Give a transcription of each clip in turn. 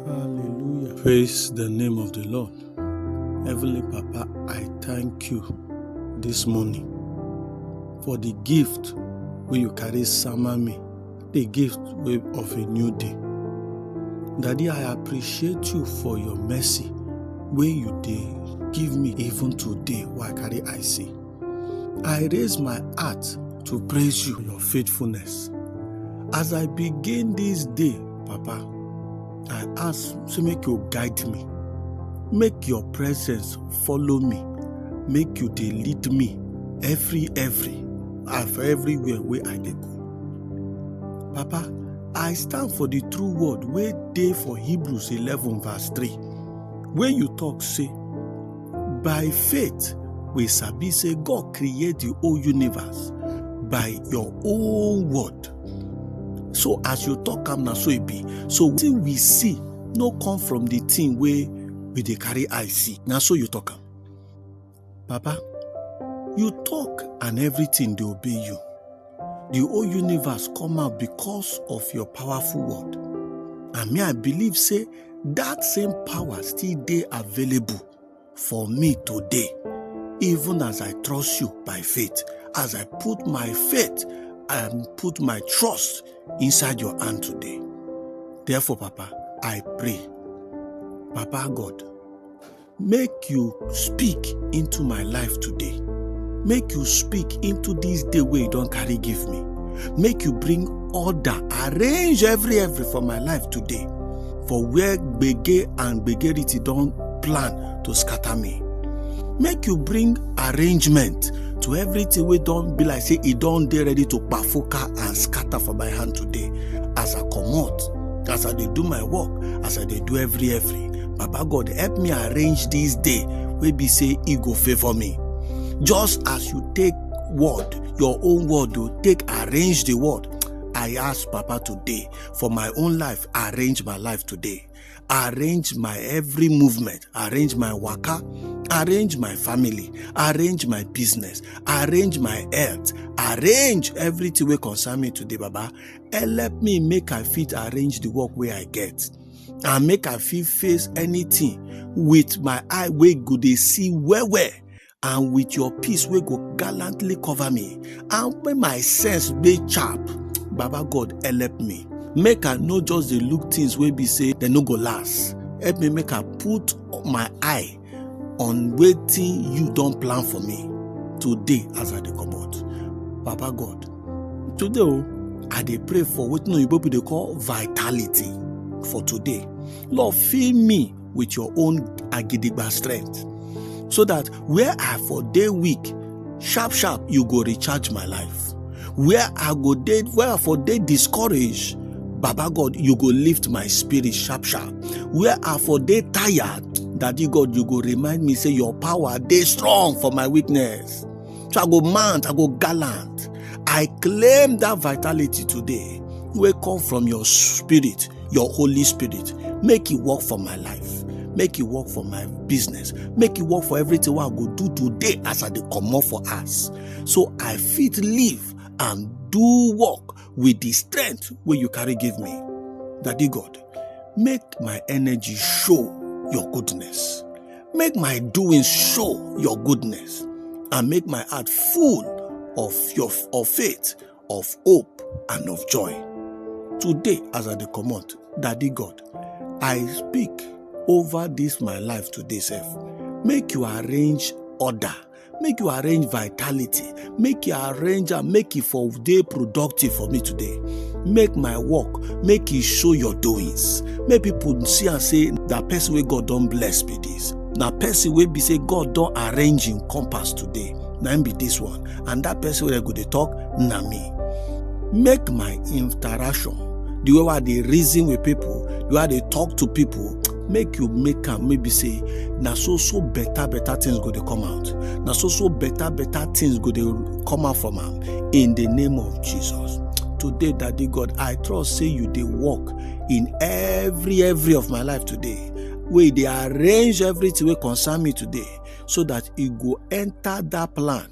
Hallelujah. Praise the name of the Lord. Heavenly Papa, I thank you this morning for the gift wey you carry sama me, the gift wey of a new day. Daddy, I appreciate you for your mercy wey you dey give me even today wey I carry eye see. I raise my heart to praise you for your faithfulness. As I begin this day, Papa, I ask to make you guide me. Make your presence follow me. Make you dey lead me every every of everywhere wey I dey go. Papa, I stand for the true word wey dey for Hebrews 11 verse 3 wey you talk say By faith, we sabi say God create the whole universe by your own word. So as you talk am na so e be. So wetin we see no come from the thing wey we dey carry eye see. Na so you talk am. Baba, you talk and everything dey obey you. the whole universe come out because of your powerful word and me i believe say that same power still dey available for me today even as i trust you by faith as i put my faith and put my trust inside your hand today therefore papa i pray papa god make you speak into my life today make you speak into this day wey you don carry give me make you bring order arrange every every for my life today for where gbege and gbegerity don plan to scatter me make you bring arrangement to everything wey don be like say e don dey ready to kpafuka and scatter for my hand today as i comot as i dey do my work as i dey do every every Baba God, help me arrange this day wey be say e go favour me. Just as you take word, your own word o, take arrange the word. I ask Papa today for my own life, arrange my life today. Arrange my every movement, arrange my waka, arrange my family, arrange my business, arrange my health, arrange everything wey concern me today, Baba. Help me make I fit arrange the work wey I get. and make i fit face anything with my eye wey go dey see well well and with your peace wey go gallantly cover me and when my sense dey sharp baba god help me make i no just dey look things wey be say dem no go last help me make i put my eye on waiting you don't plan for me today as i dey comot papa god today o oh, i dey pray for wetin oyibo people dey call vitality for today lord fill me with your own agidigba strength so that where i for day week sharp sharp you go recharge my life where i go dey where i for dey discouraged baba god you go lift my spirit sharp sharp where i for dey tired daddy god you go remind me say your power dey strong for my weakness so i go mount i go gallant i claim that vitality today wey come from your spirit your holy spirit make e work for my life make e work for my business make e work for everything wey i go do today as i dey comot for house so I fit live and do work with the strength where you carry give me. Daddy God, make my energy show your goodness. Make my doings show your goodness and make my heart full of your of faith, of hope, and of joy. Today, as I come out, Daddy God, I speak over this my life today, self. Make you arrange order make you arrange vitality make you arrange am make e for dey productive for me today make my work make e show your doings make people see am say na person wey god don bless be this na person wey be say god don arrange im compass today na im be this one and that person wey dem go dey talk na me make my interaction the way wey i dey reason with people the way i dey talk to people make you make am maybe say na so so better better things go dey come out na so so better better things go dey come out from am in the name of jesus today daddy god i trust say you dey work in every every of my life today wey dey arrange everything wey concern me today so that e go enter that plan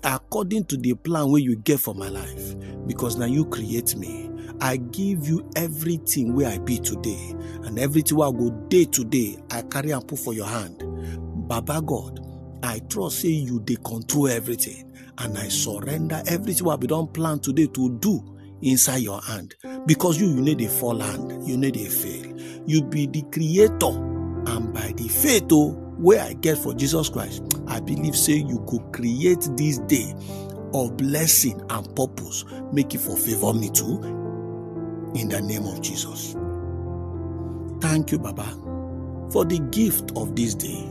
according to the plan wey you get for my life because na you create me i give you everything wey i be today and everything wey i go dey today i carry am put for your hand baba god i trust say you dey control everything and i surrender everything wey i bin don plan today to do inside your hand because you you need a fall hand you need a fail you be the creator and by the faith oh where i get for jesus christ i believe say you go create this day of blessing and purpose make it for favor me too in the name of jesus thank you baba for the gift of this day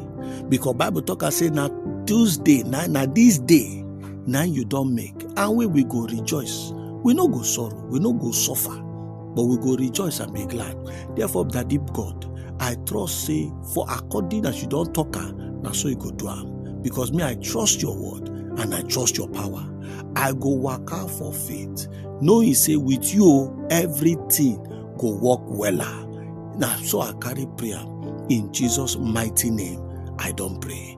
because bible talk and say now tuesday now now this day na you don make and we we go rejoice we no go sorrow we no go suffer but we go rejoice and be glad therefore daddy god i trust say for according as you don talk am na so you go do am because me i trust your word and i trust your power i go waka for faith knowing say with you everything go work wella na so i carry prayer in jesus mighty name i don pray.